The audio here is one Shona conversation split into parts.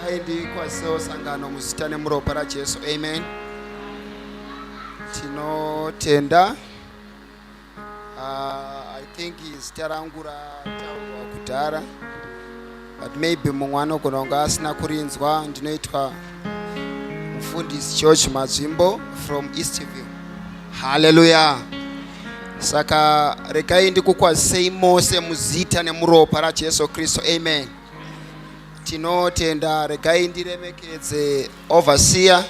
aidi kwazisawo sangano muzita nemuropa rajesu amen tinotenda Uh, I think zita rangu rataurwa kudhara but maybe mumwe anogona kunge asina kurinzwa ndinoitwa mufundisi george mazvimbo from eastview haleluya saka regai ndikukwazisei mose muzita nemuropa rajesu kristu amen tinotenda regai ndiremekedze Overseer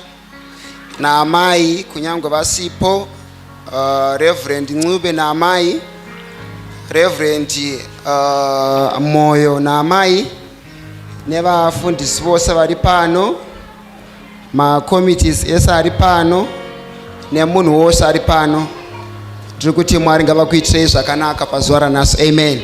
naamai kunyangwe vasipo uh, Reverend Ncube naamai Reverend uh, Moyo naamai nevafundisi vose vari pano macomities ese ari pano nemunhu wose ari pano ndiri kuti mwari ngavakuitirei zvakanaka pazuva ranhasi amen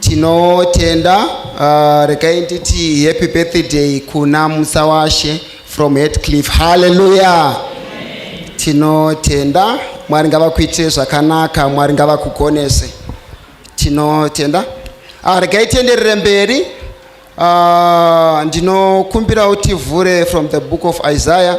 Tinotenda uh, regai nditi happy birthday kuna musawashe from Headcliff. Hallelujah. Tinotenda Mwari ngavakuitire zvakanaka, Mwari ngavakugonese. Tinotenda. Ah, regai tienderere mberi. Uh, ndinokumbira utivhure from the book of Isaiah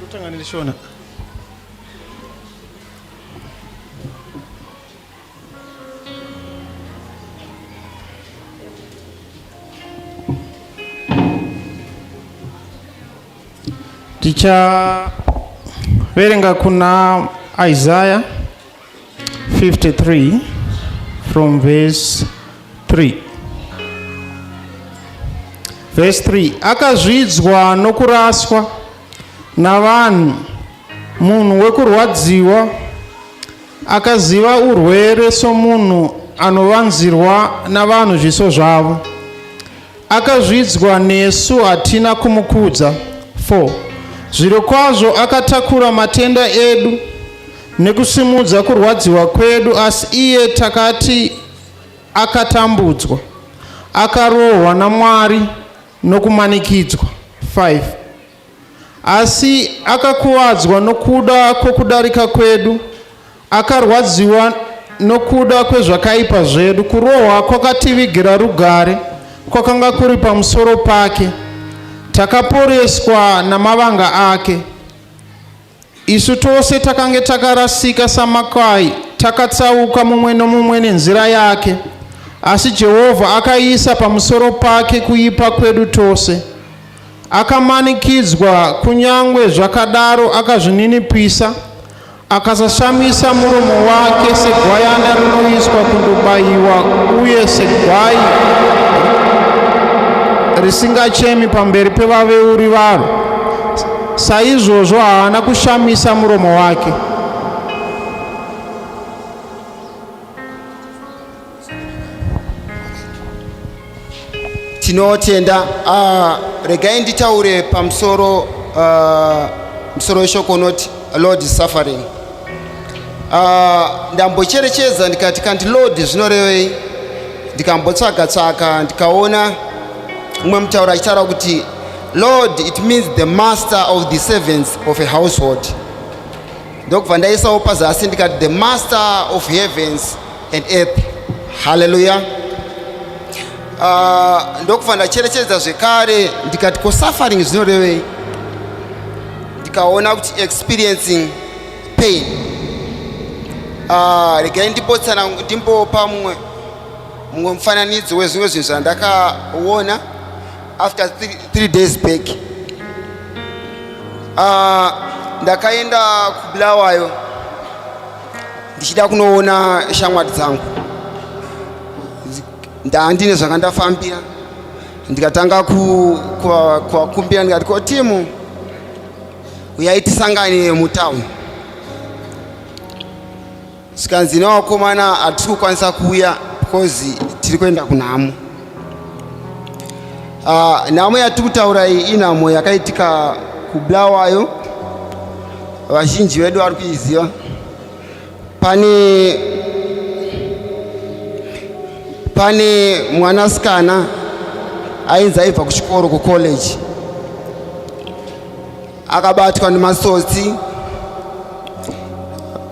Kutanga neshona. Ticha verenga kuna Isaiah 53 from verse 3 verse 3 akazvidzwa nokuraswa navanhu munhu wekurwadziwa akaziva urwere somunhu anovanzirwa navanhu zviso zvavo akazvidzwa nesu hatina kumukudza 4 zvirokwazvo akatakura matenda edu nekusimudza kurwadziwa kwedu asi iye takati akatambudzwa akarohwa namwari nokumanikidzwa 5 asi akakuvadzwa nokuda kwokudarika kwedu akarwadziwa nokuda kwezvakaipa zvedu kurohwa kwakativigira rugare kwakanga kuri pamusoro pake takaporeswa namavanga ake Isu tose takange takarasika samakwai, takatsauka mumwe nomumwe nenzira yake. Asi Jehovha akaisa pamusoro pake kuipa kwedu tose. Akamanikidzwa, kunyange zvakadaro akazvininipisa, akasashamisa muromo wake segwayana rinoiswa kundobayiwa uye segwai risingachemi pamberi pevaveuri varo. Saizvozvo haana kushamisa muromo wake. Tinotenda. Uh, regai nditaure pamusoro uh, musoro weshoko unoti Lord is suffering. Uh, ndambocherechedza ndikati kanti Lord zvinorevei ndikambotsvaga tsvaga ndikaona umwe mutauro achitaura kuti Lord it means the master of the servants of a household ndokubva ndaisawo pazasi ndikati the master of heavens and earth haleluya uh, ah, ndokubva ndacherechedza zvekare ndikati ko suffering zvinorevei ndikaona kuti experiencing pain uh, regai ndipotsana ndimbopa mumwe mumwe mufananidzo wezvimwe zvinhu zvandakaona after three, three days back uh, ndakaenda kubulawayo ndichida kunoona shamwari dzangu ndandine zvanga ndafambira ndikatanga kuvakumbira ndikati ko timu uyai tisangane mutown zvikanzi nevakomana hatisi kukwanisa kuuya because tiri kuenda kunhamo uh, nhamo yatiri kutaura iyi inhamo yakaitika kubulawayo vazhinji vedu vari kuiziva pane pane mwanasikana ainzi aibva kuchikoro kucollege akabatwa nemasotsi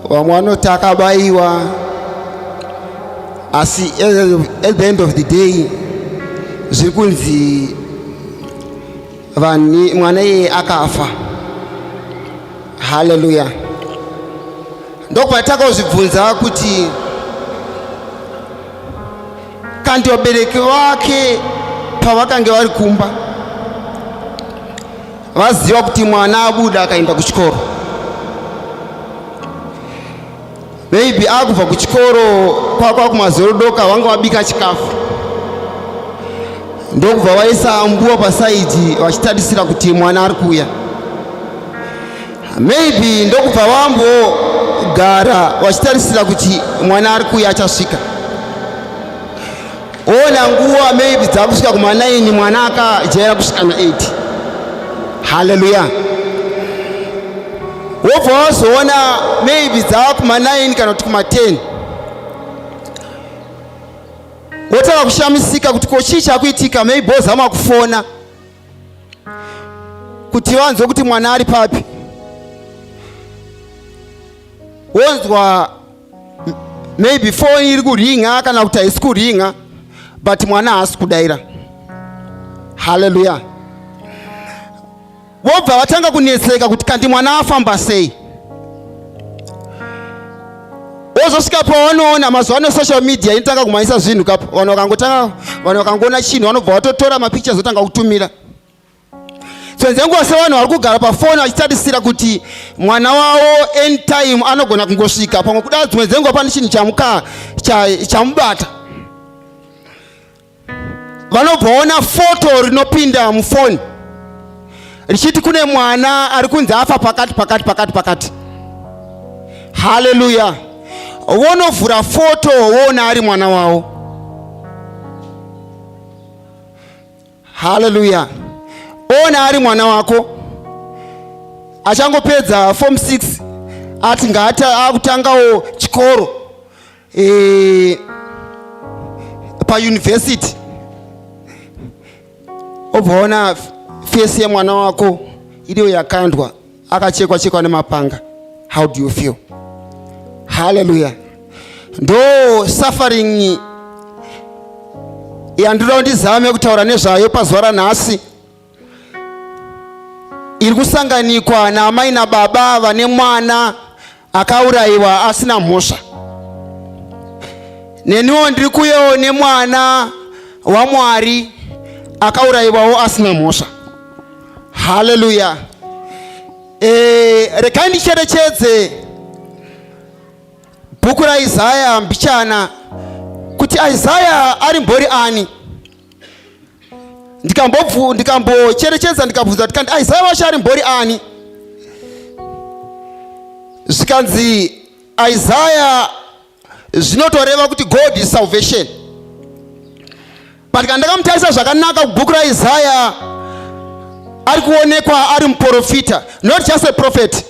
vamwe vanoti akabaiwa asi at the end of the day zviri kunzi vanhu mwana iyeye akafa haleluya ndokupatakauzvibvunza kuti kandi vabereki vake pavakange vari kumba vaziva kuti mwana abuda akaenda kuchikoro maybe akubva kuchikoro kwakwa kumazorodoka vanga vabika chikafu ndokubva vaisa ambuwa pasaidhi vachitarisira kuti mwana ari kuuya maybe ndokubva vambogara vachitarisira kuti mwana ari kuuya achasvika Ona nguva maybe dzakusvika kuma 9 mwana akajaira kusvika na 8. Hallelujah. Wobva wazoona maybe dzava kuma 9 kana kuti kuma 10. Wotanga kushamisika kuti ko chii chakuitika maybe wozama kufona kuti vanzwe kuti mwana ari papi. Wonzwa maybe phone iri kuringa kana kuti haisi kuringa but mwana haasi kudaira haleluya vobva vatanga kunetseka kuti kandi mwana afamba sei wozosvika pawanoona mazuva ano social media inotanga kumhanyisa zvinhu kapo vanhu vakangotanga vanhu vakangoona chinhu vanobva vatotora mapictures otanga kutumira Dzimwe nguva sevanhu vari kugara pafoni vachitarisira kuti mwana wavo anytime anogona kungosvika pamwe kudaro dzimwe dzenguva pane chinhu chamuka chamubata vanobvaona foto rinopinda mufoni richiti kune mwana ari kunzi afa pakati pakati pakati pakati haleluya vonovhura foto woona ari mwana wavo haleluya ona ari mwana wako achangopedza form 6 ati ngaata akutangawo chikoro e, pauniversity obvaona fesi yemwana wako iriyo yakandwa akachekwa chekwa nemapanga how do you feel haleluya ndo suffering yandinoda kuti ndizame kutaura nezvayo pazuva ranhasi iri kusanganikwa naamai nababa vane mwana akaurayiwa asina mhosva neniwo ndiri kuyewo nemwana wamwari akaurayiwawo asina mhosva haleluya e, eh, rekai ndicherechedze bhuku raisaya mbichana kuti isaya ari mbori ani ndikambobvu ndikambocherechedza ndikabvunza tikandi aizai wacho ari mbori ani zvikanzi isaya zvinotoreva kuti god is salvation but kana ndakamutarisa zvakanaka kubhuku raisaya ari kuonekwa ari muprofita not just a prophet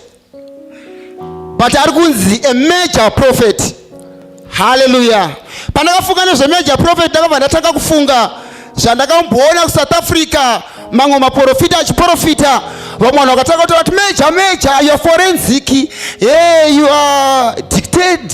but ari kunzi a major prophet haleluya pandakafunga nezvemajor prophet ndakabva ndatanga kufunga zvandakamboona kusouth africa mamwe maprofita achiprofita vamwe vanhu vakatanga kutaura kuti major major your forensic hey, you are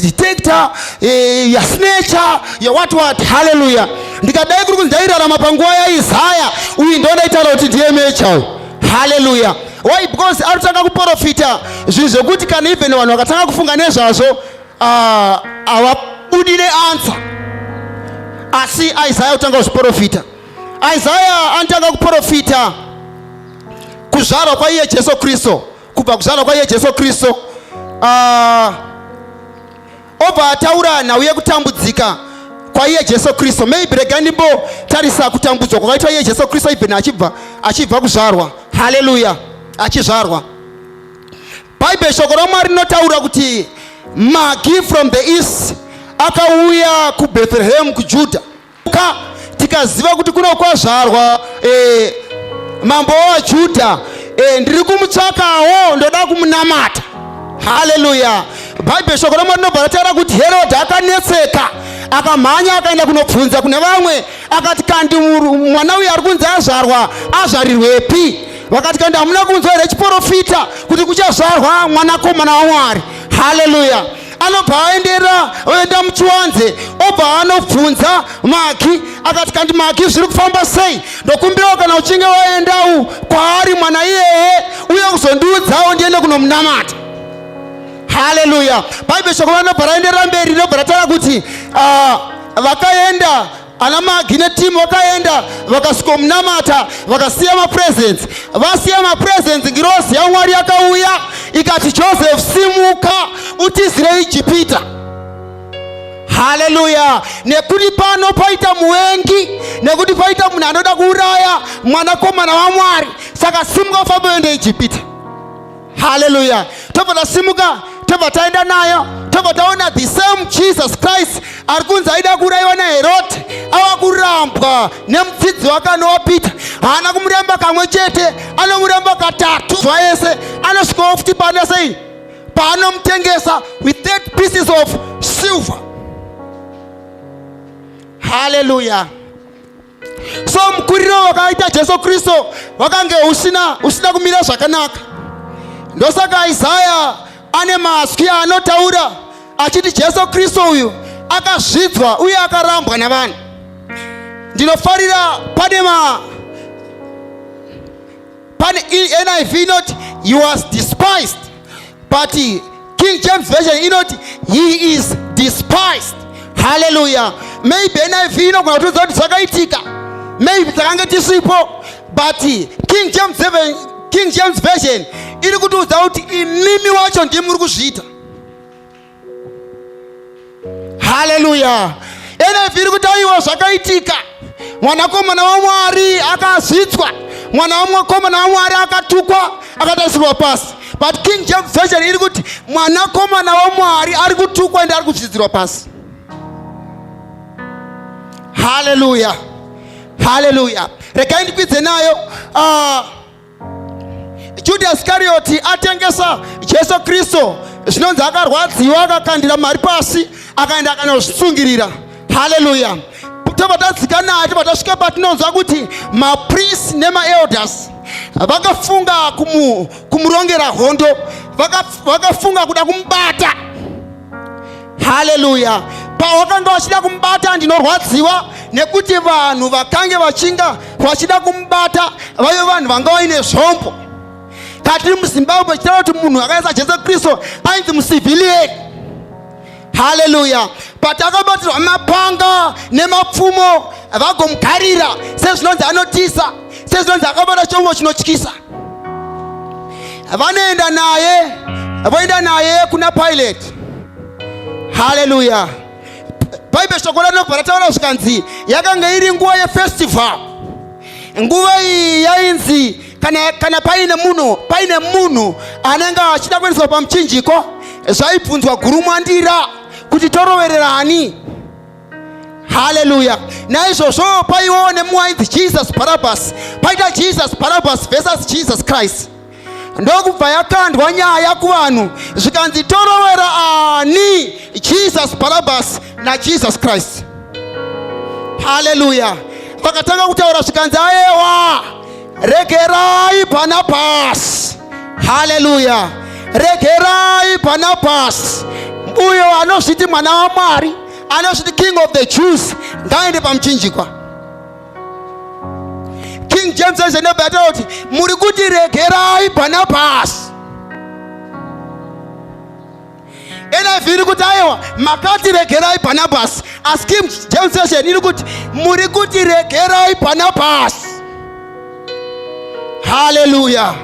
detector hey, your snatcher your what what haleluya ndikadai kuri kunzi ndairarama panguva yaizaya uyu ndondaitaura kuti ndiye major haleluya why because arikutanga kuprofita zvinhu zvekuti kana even vanhu vakatanga kufunga nezvazvo ah, havabudi neansa asi isaya kutanga kuzviprofita isaya anotanga kuprofita kuzvarwa kwaiye jesu kristu kubva kuzvarwa kwaiye jesu kristu uh, obva ataura nhau yekutambudzika kwaiye jesu kristu maybe regai ndimbotarisa kutambudzwa kwakaitwa iye jesu kristu even achibva achibva kuzvarwa haleluya achizvarwa bhaibheri shoko ramwari rinotaura kuti magi from the east akauya kubethlehem kujudha ka tikaziva kuti kuno kwazvarwa e, mambo wajuda e, ndiri kumutsvakawo ndoda kumunamata haleluya bhaibheri shoko ramwari rinobva rataura kuti herodhi akanetseka akamhanya akaenda kunobvunza kune vamwe akati kandi mwana uyu ari kunzi azvarwa azvarirwepi vakati kandi hamuna kunzwa here chiporofita kuti kuchazvarwa mwanakomana wamwari haleluya anobva aendera oenda muchiwanze obva anobvunza maki akati kandi maki zviri kufamba sei ndokumbirawo kana uchinge waendawo kwaari mwana iyeye uye kuzondiudzawo ndiende kunomunamata haleluya bhaibheri shoko vanobva raenderera mberi rinobva rataura kuti ah, vakaenda ana magi netimu vakaenda vakasvikomunamata vakasiya mapresents vasiya mapresents ngirozi yamwari yakauya ikati joseph simuka utizire ijipita haleluya nekuti pano paita muvengi nekuti paita munhu anoda kuuraya mwanakomana wamwari saka simuka ufambe uende ijipita haleluya tobva tasimuka tobva taenda nayo tobva taona the same jesus christ ari kunzi aida kuurayiwa naherode ava kurambwa nemufidzi wake anowa peter haana kumuramba kamwe chete anomuramba katatu zuva yese anosvikawo futi paana sei paanomutengesa with that pieces of silver haleluya so mukuriro wakaita jesu kristu wakange usina usina kumira zvakanaka ndosaka isaya ane mazwi aanotaura achiti jesu kristu uyu akazvidzwa uye akarambwa navanhu ndinofarira pane ma pane NIV inoti he was despised but King James version inoti he is despised haleluya maybe NIV inogona kutiudza kuti zvakaitika maybe takange tisipo but King James, King James version iri kutiudza kuti imimi wacho ndimuri kuzviita haleluya nf iri kutauriwa zvakaitika mwanakomana wamwari akazvidzwa mwana wamwakomana wamwari akatukwa akatarisirwa pasi but king james version iri kuti mwanakomana wamwari ari kutukwa ende ari kuzvidzirwa pasi haleluya haleluya regai ndikwidze nayo uh, Judas Karioti atengesa Jesu Kristo, zvinonzi akarwadziwa, akakandira mari pasi, akaenda akanozvitsungirira. Haleluya! tobva tadzika naye tobva tasvika patinonzwa kuti maprisi nemaelders vakafunga kumurongera hondo vakafunga kuda kumubata haleluya pawakanga wachida kumubata ndinorwadziwa nekuti vanhu vakange vachinga vachida kumubata vaive vanhu vanga vaine zvombo katiri muzimbabwe chitaura kuti munhu akaisa jesu kristu ainzi musivhilieni haleluya but akabatirwa mapanga nemapfumo vagomugarira sezvinonzi anotiza sezvinonzi akaona chombo chinotyisa vanoenda naye voenda naye kuna pilate haleluya bhaibheri shoko ranobva rataura zvikanzi yakanga iri nguva yefestival nguva iyi yainzi kana, kana paine munhu paine munhu anenge achida kuendeswa pamuchinjiko zvaibvunzwa gurumwandira kuti toroverera ani haleluya naizvozvo paiwo nemuwainzi jesus barabas paita jesus barabas versus jesus christ ndokubva yakandwa nyaya kuvanhu zvikanzi torovera ani jesus barabas najesus christ haleluya vakatanga kutaura zvikanzi ayewa regerai bhanabhasi haleluya regerai bhanabhasi uyo anozviti mwana wamwari anozviti king of the jews ngaende pamuchinjikwa king james aizenebata kuti muri kuti regerai bhanabhasi NIV iri kuti aiwa makati regerai Barnabas asi King James Version iri kuti muri kuti regerai Barnabas haleluya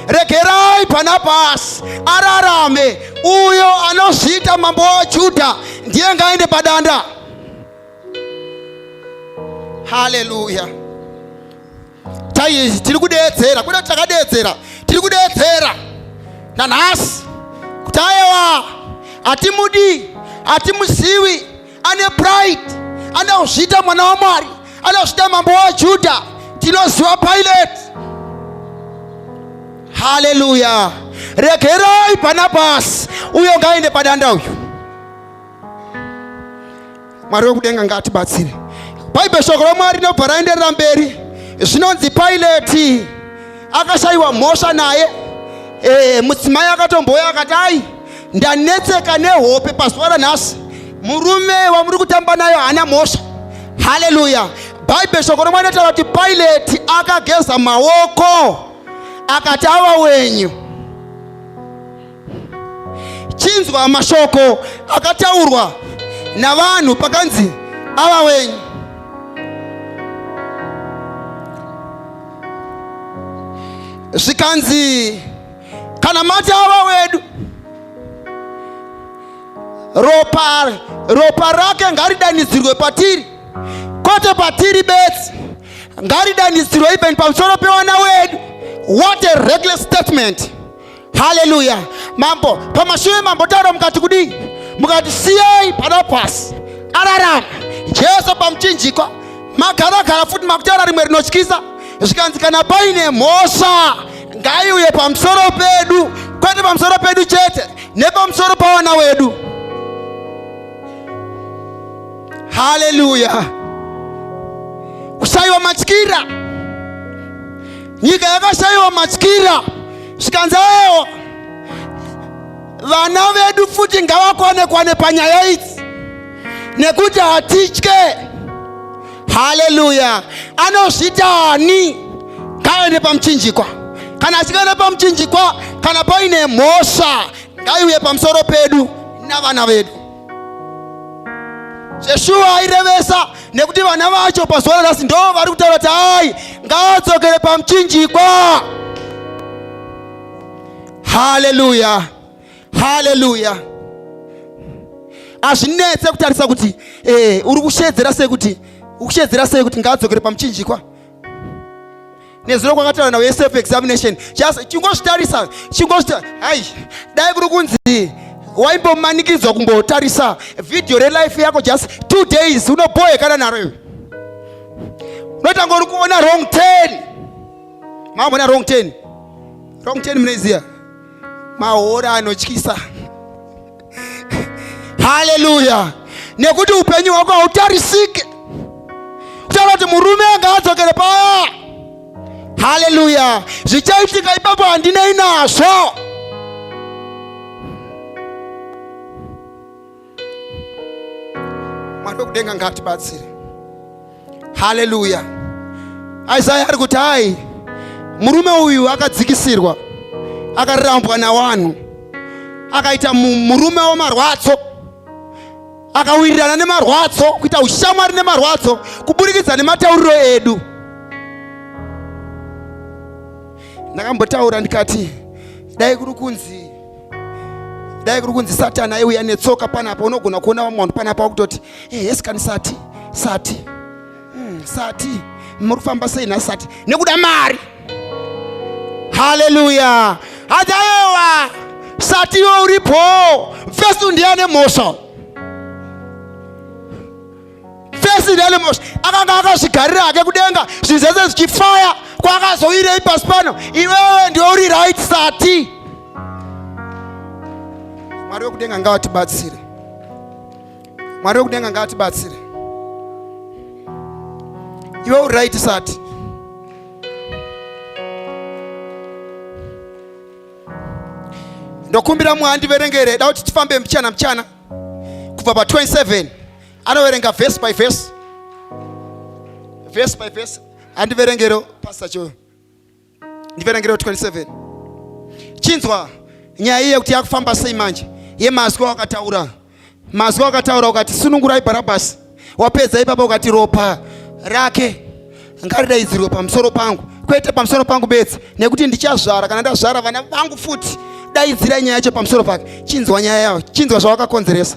regerai pana pasi ararame uyo anozviita mambo wajudha ndiye ngaende padanda haleluya chaiizvi tiri kudeedzera kuda kuti takadeedzera tiri kudeedzera nanhasi kuti ayewa hatimudi hatimuzivi ane pride anozviita mwana wamwari anozviita mambo wajudha tinoziva pilate haleluya regerai bhanabhasi uyo ngaende padanda uyu mwari wekudenga ngaatibatsire bhaibheri shoko ramwari rinobva raenderera mberi zvinonzi pilati akashayiwa mhosva naye e, mudzimai akatombouya akati ai ndanetseka nehope pazuva ranhasi murume wamuri kutamba nayo haana mhosva haleluya bhaibheri shoko romwana taura kuti paileti akageza maoko akati ava wenyu chinzwa mashoko akataurwa navanhu pakanzi ava wenyu zvikanzi Kana mati ava wedu ropa, ropa rake ngaridanidzirwe patiri kwete patiri bedzi ngaridanidzirwe even pamusoro pewana wedu what a reckless statement haleluya mambo pamashure mambo taura mukati kudii mukati siyei pana pasi ararama jesu pamuchinjikwa magaragara futi makutaura rimwe rinotyisa zvikanzi kana paine mhosva ngaiuye pamusoro pedu, kwete pamusoro pedu chete, nepamusoro pawana wedu. Haleluya! Kushaiwa matyira, nyika yakashaiwa matyira, zvikanzi ewo vana vedu futi ngavakwane kwane panyaya idzi nekuti hatitye haleluya anozvita ani ngaaende pamuchinjikwa kana asikaende pamuchinjikwa kana paine mhosva ngaiuye pamusoro pedu navana vedu zveshuwa airevesa nekuti vana vacho pazuva ranhasi ndo vari kutaura kuti hai ngaadzokere pamuchinjikwa haleluya haleluya hazvinetse kutarisa kuti eh, uri kusheedzera sei kuti ukusheedzera sei kuti ngaadzokere pamuchinjikwa nezuro kwakataura nawo yeself examination just chingozvitarisa chingozvita hai dai kuri kunzi waimbomanikidzwa kumbotarisa vhidhiyo relife yako just two days unobohekana naro iwe unotanga uri kuona wrong ten maambona wrong ten wrong ten munoiziva mahora anotyisa haleluya nekuti upenyu hwako hautarisike kutaura kuti murume anga adzokere paya haleluya zvichaitika ipapo handinei nazvo mwari wekudenga ngatibatsire haleluya isaya ari kuti hai murume uyu akadzikisirwa akarambwa nawanhu akaita murume wemarwadzo akawirirana nemarwadzo kuita ushamwari nemarwadzo kuburikidza nematauriro edu ndakambotaura ndikati dai kuri kunzi dai kuri kunzi satani aiuya netsoka panapa unogona kuona vamwe vanhu panapa wakutoti eh, yes kani sati sati hmm, sati muri kufamba sei nasati nekuda mari haleluya hadaewa sati iwe uripo vhesi ndiya nemhosva First Delmos akanga akazvigarira hake kudenga zvinhu zvese zvichifaya kwakazoirei pasi pano iwewe ndiwe uri right sati mwari wekudenga ngavatibatsire mwari wekudenga ngavatibatsire iwe uri right sati ndokumbira mwandiverengere da kuti tifambe mchana mchana kubva pa 27 anoverenga verse by verse verse by verse andiverengero pastor cho ndiverengero 27 chinzwa nyaya iye kuti yakufamba sei manje yemazwi wakataura mazwi wakataura ukati sunungurai bharabhasi wapedza ipapa ukati ropa rake ngaridaidzirwe pamusoro pangu kwete pamusoro pangu bedzi nekuti ndichazvara kana ndazvara vana vangu futi daidzirai nyaya yacho pamusoro pake chinzwa nyaya yayo chinzwa zvawakakonzeresa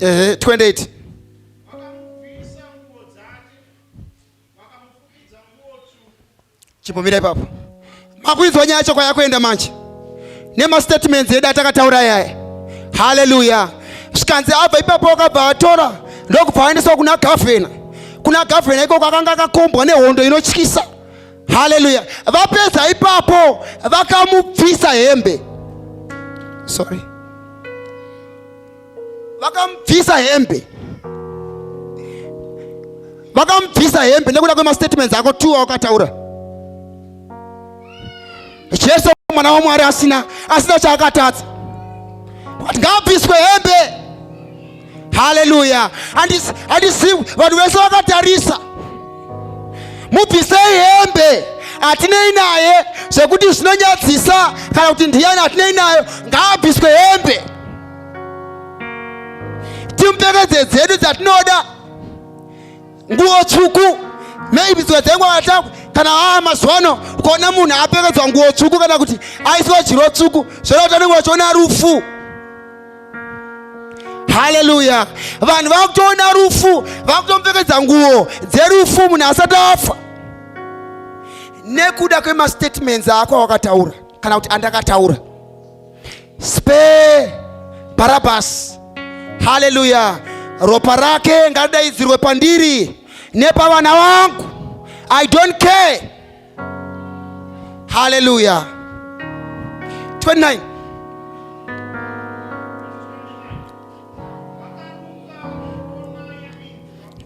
ehe 28 chipomira ipapo makuidzwa nyaya chokwa yakuenda manje nemastatements edu atakataura yaye haleluya zvikanzi abva ipapo wakabva atora ndokubva aendeswa kuna gavhena kuna gavhena ikoko akanga akakombwa nehondo inotyisa haleluya vapedza ipapo vakamubvisa hembe sorry vakamubvisa hembe vakamubvisa hembe nekuda kwemastatements ako t aukataura jesu mwana wamwari asina asina chaakatadza but ngaabviswe hembe haleluya handisi vanhu vese vakatarisa mubvisei hembe hatinei naye zvekuti zvinonyadzisa kana kuti ndiyani hatinei nayo ngaabviswe hembe timpfekedze dzedu dzatinoda nguo tsvuku maybe dzimwe dzenguva atakwe kana aa mazuva ano ukaona munhu apfekedzwa nguo tsvuku kana kuti aisiwa jiro tsvuku zvona kuti anenge vachiona rufu haleluya vanhu vakutoona rufu vakutompfekedza nguo dzerufu munhu asati afa nekuda kwemastatements ako awakataura kana kuti andakataura Spare Barabbas. Haleluya! Ropa rake ngadaidzirwe pandiri nepavana wangu. I don't care. Haleluya! 29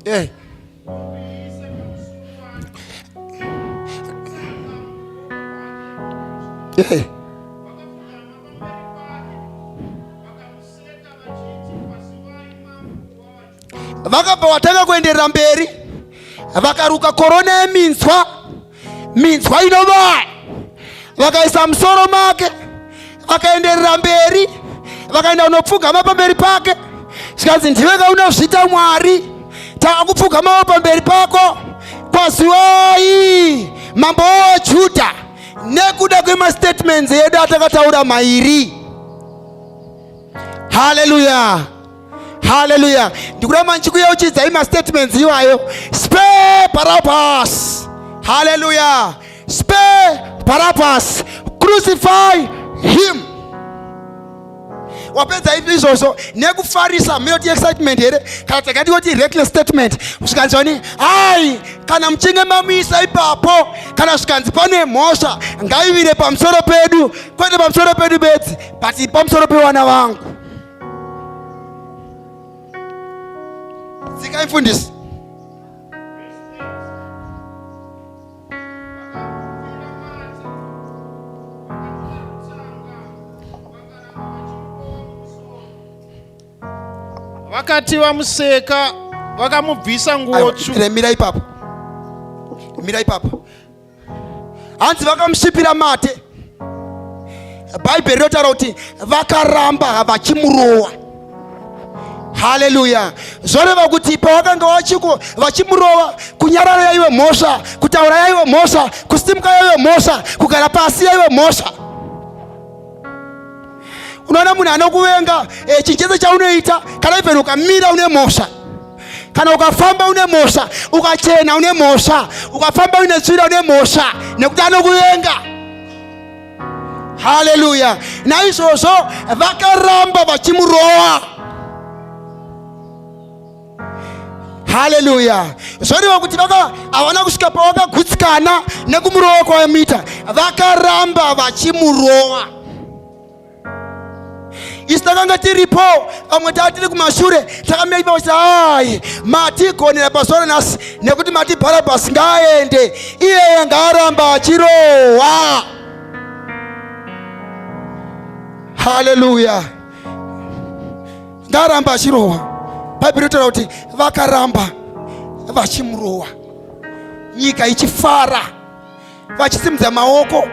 yeah. Hey. vakabva vatanga kuenderera mberi vakaruka korona yeminzwa minzwa inovaya vakaisa musoro make vakaenderera mberi vakaenda kunopfugama pamberi pake zvikanzi ndiwe kaunozviita mwari tava kupfugamawo pamberi pako kwaziwai mambo wejudha nekuda kwemastatements edu atakataura mairi haleluya haleluya ndikuda manje kuyeuchidzai mastatements iwayo spe parapas haleluya spe parapas crucify him wapedza ipi izvozvo nekufarisa muyoti excitement here kana takati yoti reckless statement zvikanzi wani hai kana muchinge mamuisa ipapo kana zvikanzi pane mhosva ngaivire pamusoro pedu kwete pamusoro pedu bedzi but pamusoro pewana vangu Dzikai mfundisi. Vakati vamuseka vakamubvisa nguo tsvuku. Mira ipapo. Mira ipapo. hanzi vakamusvipira mate bhaibheri rinotaura kuti vakaramba vachimurowa haleluya zvoreva kuti pavakanga vachiko vachimurova kunyarara yaive mhosva kutaura yaive mhosva kusimuka yaive mhosva kugara pasi yaive mhosva unoona munhu anokuvenga eh, chinhu chese chaunoita kana even ukamira une mhosva kana ukafamba une mhosva ukachena une mhosva ukafamba une tsvira une mhosva nekuti anokuvenga haleluya naizvozvo vakaramba vachimurowa haleluya zvoreva kuti vaka havana kusvika pavakagutsikana nekumurowa kwavamita vakaramba vachimurowa isu takanga tiripo vamwe taa tiri kumashure takamira ipa vachiti hayi matigonera pazuva ranhasi nekuti mati bharabhasi ngaaende iyeye ngaaramba achirohwa haleluya ngaaramba achirohwa bhaibheri rinotaura kuti vakaramba vachimurohwa nyika ichifara vachisimudza maoko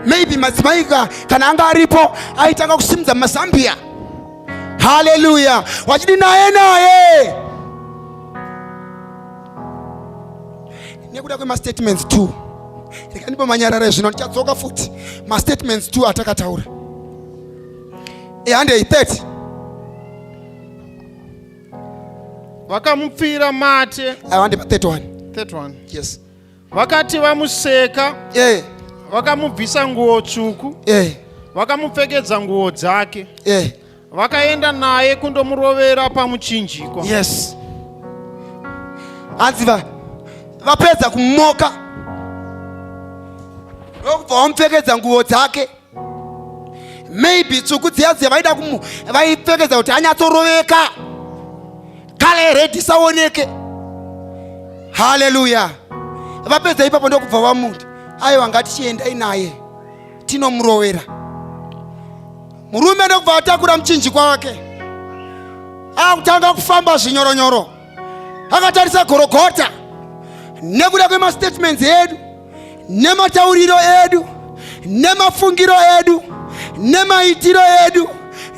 maybe madzimai kana anga aripo aitanga kusimudza mazambiya haleluya wachidi naye naye nekuda kwemastatements t rekandipo manyarara ezvino ndichadzoka futi mastatements t atakataura handei 30 vakamupfira mate handi 31 31 yes vakati vamuseka eh vakamubvisa nguo tsvuku eh vakamupfekedza nguo dzake eh vakaenda naye kundomurovera pamuchinjikwa yes hanzi va vapedza kumoka ndokubva wamupfekedza nguo dzake maybe tsvuku dziya dziya vaida kumu vaipfekedza kuti anyatsoroveka kale redi isaoneke haleluya vapedza ipapo ndokubva vamuti aiwa ngatichiendai naye tinomurovera murume ndokubva atakura muchinjikwa wake akutanga kufamba zvinyoronyoro akatarisa gorogota nekuda kwemastatements edu nematauriro edu nemafungiro edu nemaitiro edu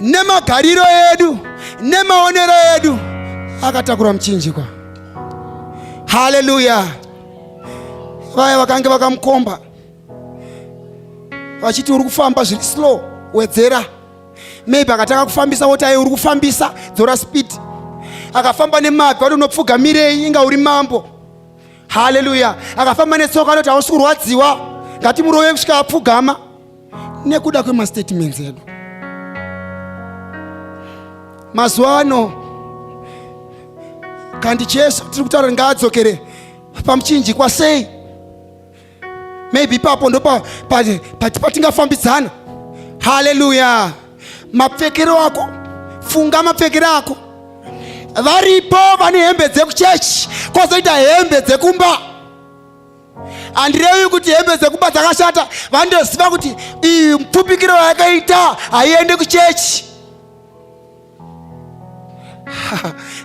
nemagariro edu nemaonero edu akatakura muchinjikwa haleluya vaya vakange vakamukomba vachiti uri kufamba zviri slow wedzera maybe akatanga kufambisa woti aye uri kufambisa dzora speed akafamba nemabvi wati unopfugamirei inga uri mambo haleluya akafamba netsoka anoti hausi kurwadziwa ngatimurove kusvika apfugama nekuda kwemastatements edu mazuva ano kandi jesu tiri kutaura ngaadzokere pamuchinjikwa sei maybe ipapo ndo patingafambidzana pa, pa, pa, haleluya mapfekero ako funga mapfekero ako varipo vane hembe dzekuchechi kozoita hembe dzekumba handirevi kuti hembe dzekumba dzakashata vandoziva kuti iyi mupfupikiro yakaita haiende kuchechi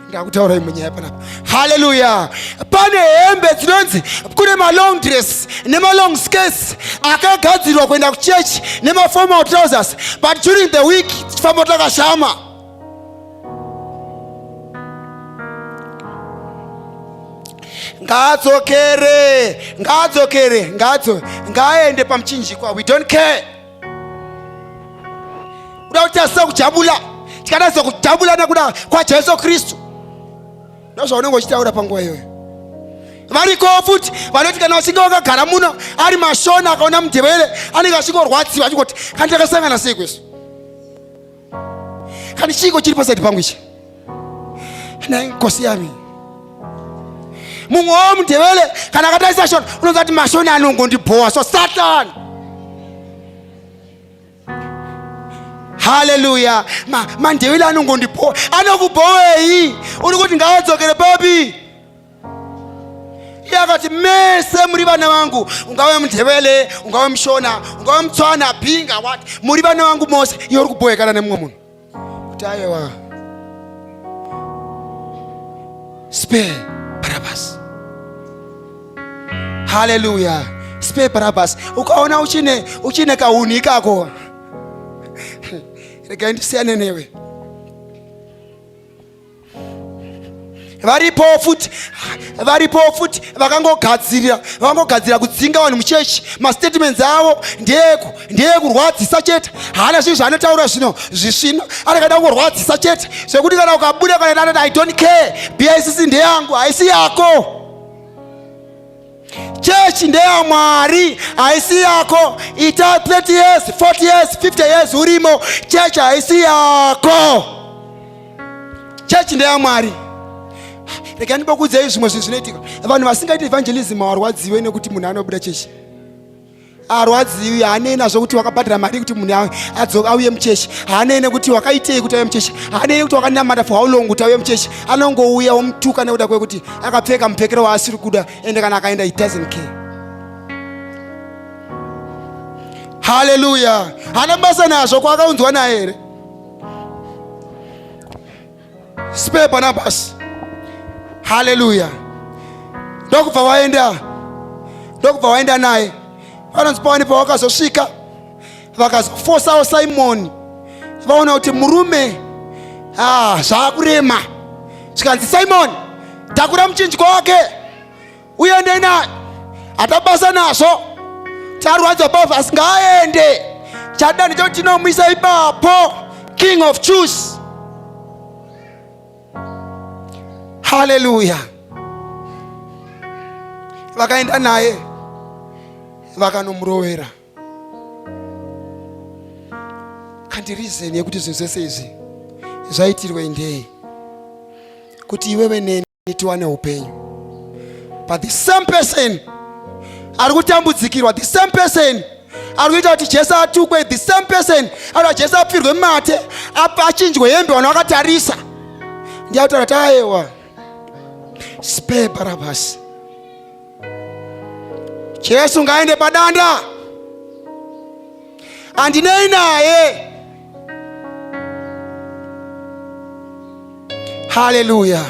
ndakutaura imwe nyaya panapa haleluya pane hembe dzinonzi kune malong dress nemalong skirts akagadzirwa kuenda kuchechi nemaformal trousers but during the week tifamba takashama ngaadzokere ngaadzokere ngaadzo ngaaende pamuchinjikwa we don't care kuda kuti asina kujabula tikatadza kujabula nekuda kwajesu kristu ndozvaunenge uchitaura panguva iyoyo variko futi vanoti kana vachinge vakagara muno ari mashona akaona mudhevere anenge achingorwadziwa achingoti kandakasangana sei kwesu kani chiiko chiri pasaidi pangu ichi nai nkosi yami mumwe wo mudevele kana akatarisa shona unonza kuti mashoni anongondibhowa so satan haleluya mandevele ma anongondibhowa anokubhowei uri kuti ngaadzokere papi iye akati mese muri vana vangu ungave mundevele ungave mushona ungave mutswana bhinga wat muri vana vangu mose iye uri kubohekana nemumwe munhu kuti ayewa spe barabas haleluya spe barabas ukaona uchine uchine kahunhu ikako regai ndisiyane newe varipo futi varipo futi vakangogadzirira vakangogadzirira kudzinga vanhu muchechi mastatements avo ndeeku ndeekurwadzisa chete haana zvinhu zvaanotaura zvino zvisvina anakaida kungorwadzisa chete zvekuti kana ukabuda kana anoti i don't care bicc ndeyangu haisi yako Chechi ndeya Mwari, haisi yako. Ita 30 years, 40 years, 50 years urimo, chechi haisi yako. Chechi ndeya Mwari. Rega ndibokudzei zvimwe zvinhu zvinoitika. Vanhu vasingaiti evangelism hawarwadziwe nekuti munhu anobuda chechi. arwadziwi haanei nazvo kuti wakabhadhara mari kuti munhu adzoka auye muchechi haanei nekuti wakaitei kuti auye muchechi haanei nekuti wakanamata for how long kuti auye muchechi anongouya womutuka nekuda kwekuti akapfeka mupfekero waasiri kuda ende kana akaenda he doesn't care haleluya haana basa nazvo kwaakaunzwa naye here Spare Barnabas. Hallelujah. Ndokubva waenda ndokubva waenda naye vanonzi pawani pawakazosvika vakazofosawo simoni vaona kuti murume ah, zvaakurema zvikanzi simoni takura muchinjwa wake uende naye atabasa nazvo charwadza bava asi ngaaende chada ndicho tinomwisa ipapo king of choose haleluya vakaenda naye vakanomurowera kandi rizeni yekuti zvinhu zvese izvi zvaitirwe ndei kuti iwewe neni kuti tiwane upenyu but the same person ari kutambudzikirwa the same person ari kuita kuti jesu atukwe the same person ari kuti jesu apfirwe mate achinjwe hembe vanhu vakatarisa ndiyautaura tayewa spare barabhasi jesu ngaende padanda andinei naye Haleluya!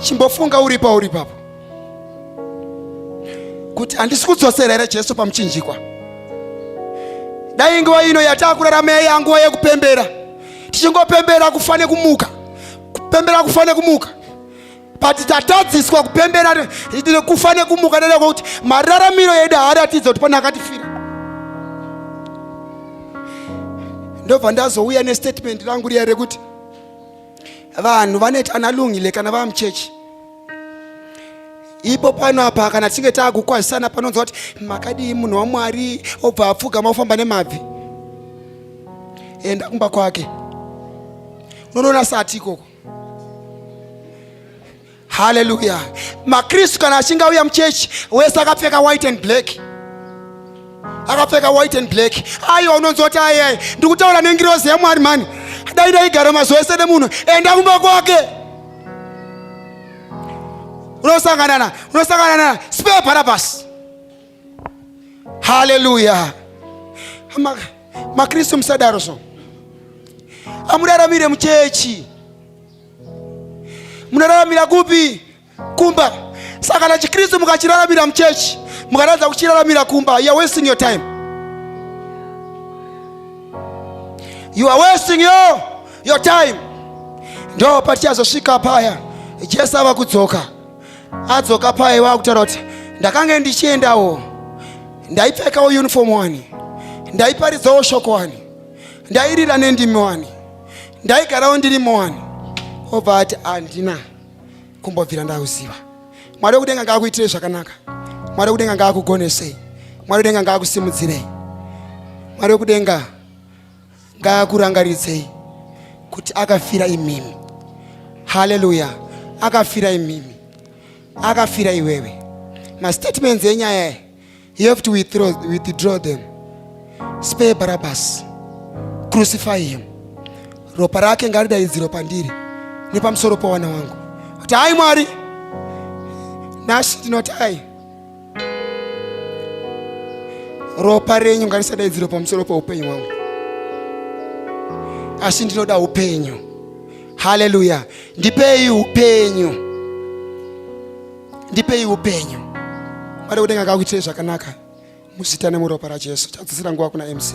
Chimbofunga uri pauri papo kuti handisi kudzosera here Jesu pamuchinjikwa. Dai nguva ino yatakurarama yaiya nguva yekupembera, tichingopembera kufa nekumuka, kupembera kufa nekumuka but tatadziswa kupembera nekufa nekumuka neda kwekuti mararamiro edu haaratidza kuti pane akatifira ndobva ndazouya nestatement rangu riya rekuti vanhu vanoita analungile kana vava muchechi ipo pano apa kana tichinge taakukwazisana panonzwa kuti makadii munhu wamwari obva apfugama ofamba nemabvi enda kumba kwake unonoona sati ikoko Haleluya! Makristu kana achinge auya muchechi, wese akapfeka white and black, akapfeka white and black. Aiwa, unonzwa kuti ayai, ndiri kutaura nengirozi yaMwari mhani, dai daigara mazuva ese nemunhu, enda kumba kwake unosangana na unosangana na spare Barabbas haleluya makristu musadaro so amuraramire muchechi munoraramira kupi kumba saka kana chikristu mukachiraramira muchechi mukaratidza kuchiraramira kumba you are wasting your time you are wasting your, your time ndo patichazosvika paya jesu ava kudzoka adzoka paye wakutaura kuti ndakange ndichiendawo ndaipfekawo uniform wani ndaiparidzawo shoko wani ndairira nendimi wani ndaigarawo ndirimo wani obva ati handina kumbobvira ndauziva mwari wekudenga ngaakuitirei zvakanaka mwari wekudenga ngaakugonesei mwari wekudenga ngaakusimudzirei mwari wekudenga ngaakurangaridzei kuti akafira imimi haleluya akafira imimi akafira iwewe mastatements enyaya e you have to withdraw, withdraw them spare barabas crucify him ropa rake ngaridaidziro pandiri nepamusoro pawana wangu kuti hayi mwari nasi ndinoti hayi ropa renyu ngarisadaidzirwe pamusoro peupenyu hwangu asi ndinoda upenyu haleluya ndipei upenyu ndipei upenyu mwari kudenga ngakuitirei zvakanaka muzita nemuropa rajesu chadzisira nguva kuna mc